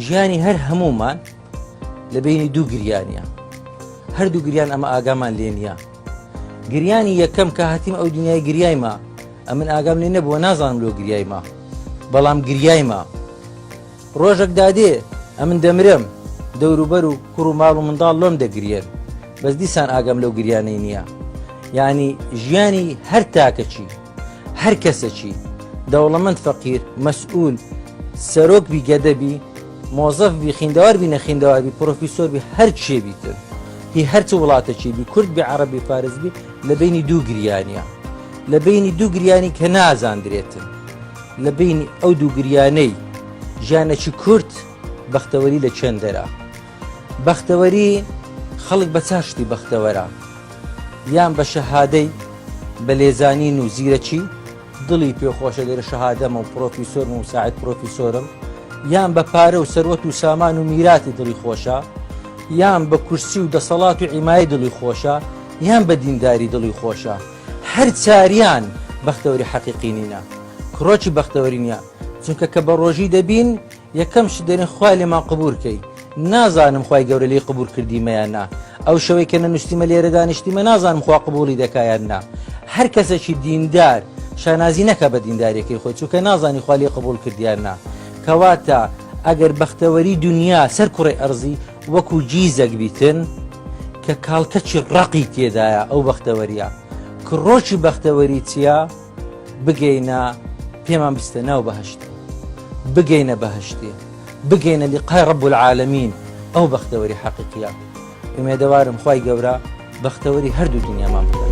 ژیانی هەر هەمومان لە بینی دوو گریانە هەردوو گریان ئەمە ئاگامان لێ نییە گریانی یەکەم کە هاتیم ئەو دنیای گریایمە ئەمن ئاگام لێ نەبووە نازانم لۆ گریایمە بەڵام گریایمە ڕۆژێک دادێ ئەمن دەمرم دەوروبەر و کوڕ و ماڵ و منداڵ لۆم دەگرێن بەس دیسان ئاگەم لەو گریانەی نییە ینی ژیانی هەر تاکەچی هەر کەسەکی دەوڵەمەند فەقیر مەسئول سەرۆک بی گەدە بی مۆزەف بی خیندەوار بی نەخیندەوار بی پرۆفیسۆر بی هەر چێ بیتر هی هەرچ وڵاتەکی بی کورد بی عربی فارز بی لە بینی دوو گریانە لە بینی دوو گریانی کە نازاندرێتن لە بینی ئەو دوو گریانەی ژیانەکی کورت بەختەوەری لە چێندەرە بەختەوەری، خەڵک بە چار شتی بەختەوەرە، یان بە شەهادەی بە لێزانین و زیرەکی، دڵی پێ خۆشە لێرە شەهادەمە و پڕۆفیسۆرم و مساعد پڕۆفیسۆرم، یان بە پارە و سەروەت و سامان و میراتی دڵی خۆشە، یان بە کورسی و دەسەڵات و عیمایەی دڵی خۆشە، یان بە دینداری دڵی خۆشە. هەر چاریان بەختەوەری حەقیقی نینە. کڕۆکی بەختەوەری نییە. چونکە کە بە ڕۆژی دەبین، یەکەم شت دەرێن خوای لێمان قبور کەی نازانم خوای گەورە لی قبور کردیمەیان نا ئەو شەوەی کە نەنووسیمە لێرە دانیشتیمە نازانم خوا قبولی دەکایان نا هەر کەسێکی دیندار شانازی نەکە بە دیندارێکی خۆی چووکە نازانی خوا لێ قبول کردیان نا کەواتە ئەگەر بەختەوەری دنیا سەر کوڕی ئەرزی وەکو جیزەک بیتن کە کاڵکەچی ڕقی تێدایە ئەو بەختەوەریە کڕۆکی بەختەوەری چییە؟ بگەینە پێمان بستە ناو بەهشت بگەینە بەهشتێ بگەینە لقای ڕب العالمین ئەو بەختەوەری حەقیقیە ئومێدەوارم خی گەورە بەختەوەری هەردوو دنیامان بکە